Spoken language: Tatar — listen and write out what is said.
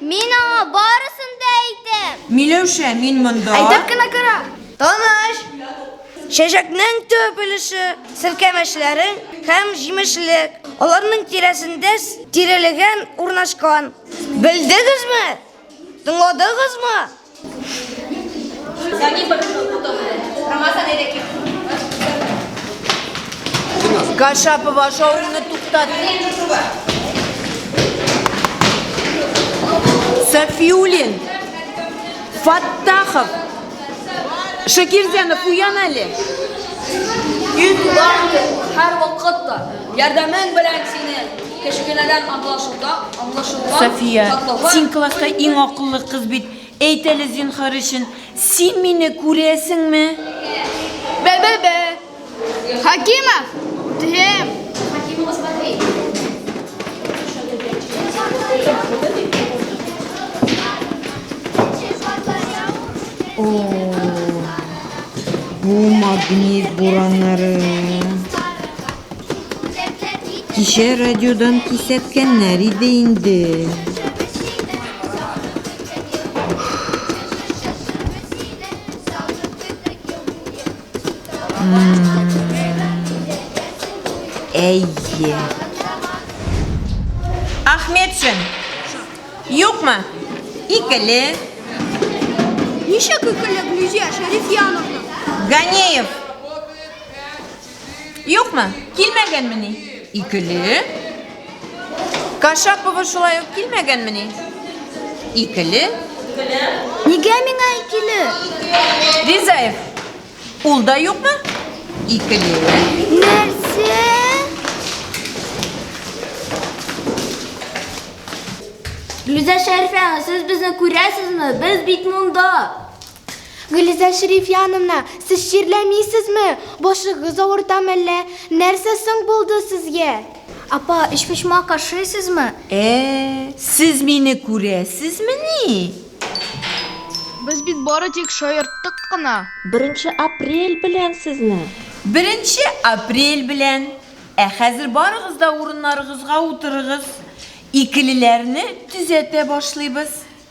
Мин аңа барысын да әйтәм. Миләүшә, мин монда. Әйтеп кенә кара. Таныш. Чәчәкнең төп өлеше, селкәмәчләрең һәм җимешлек. Аларның тирәсендә тирелеген урнашкан. Белдегезме? Тыңладыгызмы? Кашапова шоуны туктатты. Сафиулин, Фаттахов, Шакирзянов, уян әле. Ит һәр вакытта ярдәмен белән сине. Кечкенәдән аңлашылда, аңлашылган Сафия, шатлыгы син класста иң акыллы кыз бит. Әйт әле, зинһар өчен, син мине күрәсеңме? Бе-бе-бе! Хәкимов! Тем! Бу магнит бураннары. Кичә радиодан кисәткәннәр иде инде. Әйе. Ахметшин. Юкмы? Икеле. Ничек икеле, Глюзия Шәрифьяновна? Ганеев. Юкмы? Килмәгәнмени? Икеле. Кашапова шулай ук килмәгәнмени? Икеле. Нигә миңа икеле? Ризаев. Ул да юкмы? Икеле. Нәрсә? Лиза Шәрфәна, сез безне күрәсезме? Без бит монда. Гөлиза Шәрифҗановна, сез чирләмисезме? Башыгыз авырта мәллә? Нәрсә соң булды сезгә? Апа, өчпочмак ашыйсызмы? Ә, сез мине күрәсезмени? Без бит бары тик шаярттык кына. Беренче апрель белән сезне! Беренче апрель белән! Ә хәзер барыгыз да урыннарыгызга утырыгыз. Икелеләрне төзәтә башлыйбыз.